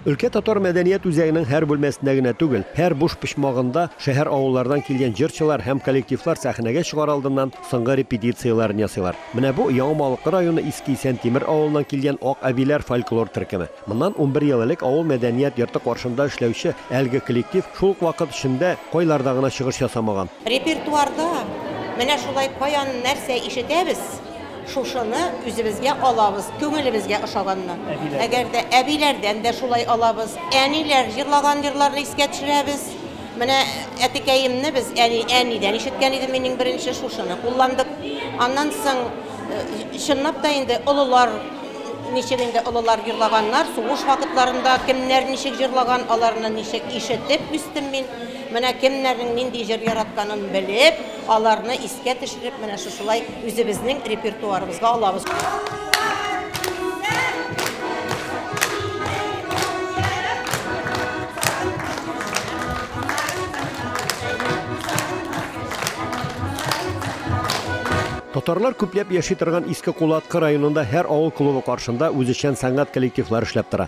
Өлкә татар мәдәният үзәгенең һәр бүлмәсендә генә түгел, һәр буш почмагында шәһәр-авыллардан килгән җырчылар һәм коллективлар сәхнәгә чыгар алдыннан соңгы репетицияләрен ясыйлар. Менә бу, Яңа Малыкы районы Иске Исәнтимер авылыннан килгән Ак әбиләр фольклор төркеме. Моннан унбер ел элек авыл мәдәният йорты каршында эшләүче әлеге коллектив шул ук вакыт эчендә кайларда гына чыгыш ясамаган. Репертуарда менә шулай каян нәрсә ишетәбез. Шушыны үзебезгә алабыз, күңелебезгә ошаганны. Әгәр дә әбиләрдән дә шулай алабыз. Әниләр җырлаган җырларны искә төшерәбез. Менә әтекәемне без әни, әнидән ишеткән идем мин иң беренче, шушыны кулландык. Аннан соң, чынлап та инде, олылар, ничек инде олылар җырлаганнар, сугыш вакытларында кемнәр ничек җырлаган, аларны ничек ишетеп үстем мин. Менә кемнәрнең нинди җыр яратканын белеп. Аларны искә төшереп, менә шушылай үзебезнең репертуарыбызга алабыз. Татарлар күпләп яши торган Иске Кулаткы районында һәр авыл клубы каршында үзешчән сәнгать коллективлары эшләп тора.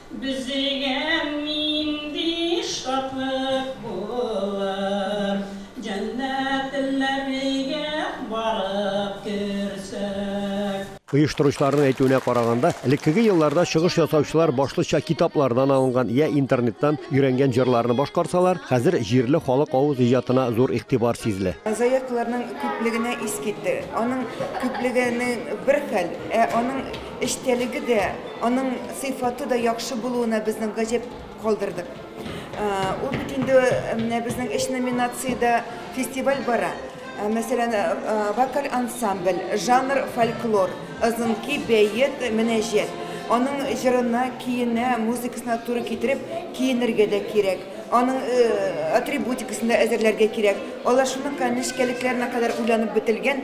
Бизегән нинди шатлык булыр. Җәннәтләргә барып керсәк. Оештыручыларның әйтүенә караганда, элеккеге елларда чыгыш ясаучылар башлыча китаплардан алынган йә интернеттан өйрәнгән җырларны башкарсалар, хәзер җирле халык авыз иҗатына зур игътибар сизелә. Заявкаларның күплегенә ис китте. Аның күплеге бер хәл, ә аның Эчтәлеге дә, аның сыйфаты да яхшы булуына безнең гаҗәп калдырдык. Ул бит инде менә безнең өч номинациядә фестиваль бара. Мәсәлән, вокаль ансамбль, жанр фольклор, озынки, бәет, мөнәҗәт. Аның җырына, киенә, музыкасына туры китереп киенергә дә кирәк. Аның атрибутикасын да әзерләргә кирәк. Алар шуның нечкәлекләренә кадәр уйланып бетелгән.